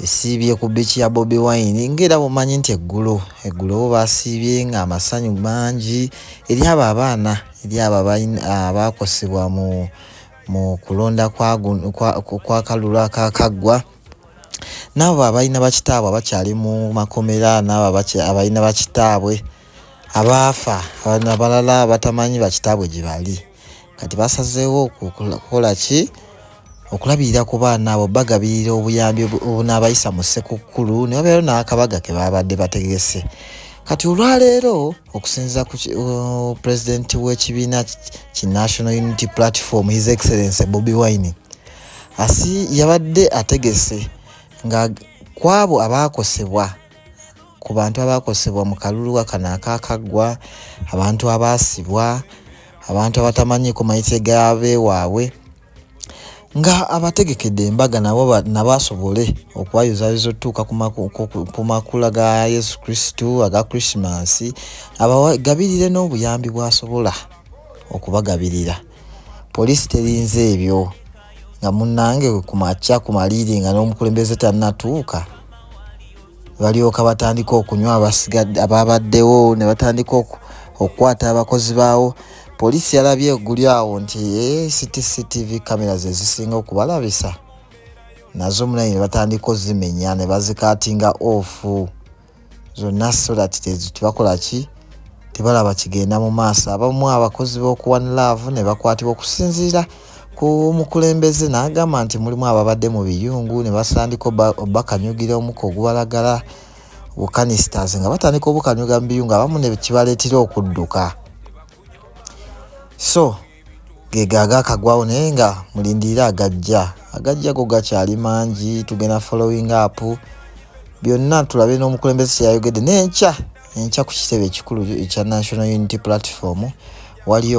esiibye ku biiki ya Bobi Wine ng'era bumanyi nti eggulo eggulo bo baasiibye ng'amasanyu mangi eri abo abaana eri abo abaakosebwa mu mu kulonda kwa kalulu akaakaggwa n'abo abalina bakitaabwe abakyali mu makomera n'abo abalina bakitaabwe abaafa abalala batamanyi bakitaabwe gye bali. kati basazeewo okukola ki okulabirira ku baana abo bagabirira obuyambi obunaabayisa mu ssekukkulu ne babeero n'akabaga ke baabadde bategese kati olwaleero okusinziira ku uh, pulezidenti w'ekibiina ki national unity platform his excellence bobi wine asi yabadde ategese nga kwabo abaakosebwa ku bantu abaakosebwa mu kaluluwa kano akaakaggwa abantu abaasibwa abantu abatamanyiiko mayitso egabeewaabwe nga abategekedde embaga nabo nabo asobole okubayozaayoza otutuuka ku makula ga yesu kristu aga krisimansi abagabirire n'obuyambi bwasobola okubagabirira poliisi terinze ebyo nga munnange ku makya ku maliiri nga n'omukulembeze tannatuuka balyoka batandika okunywa abasigadde abaabaddewo ne batandika okukwata abakozi baawo poliisi yalabye eguli awo nti eh, cctv kamera ze zisinga okubalabisa nazo munaye ne batandika ozimenya ne bazikaatinga ofu zonna so that tebakola ki tebalaba kigenda mu maaso abamu abakozi b'okuwan laavu ne bakwatibwa okusinziira ku mukulembeze n'agamba nti mulimu ababadde mu biyungu ne basandika obakanyugira omuka ogubalagala bukanistas nga batandika obukanyuga mu biyungu abamu ne kibaleetera okudduka so gego agakagwawo naye nga mulindirire agajja agajja go gakyali mangi tugenda following up byonna tulabe n'omukulembeze kyeyayogedde nenkya enkya ku kitebe ekikulu ekya national unity platform waliyo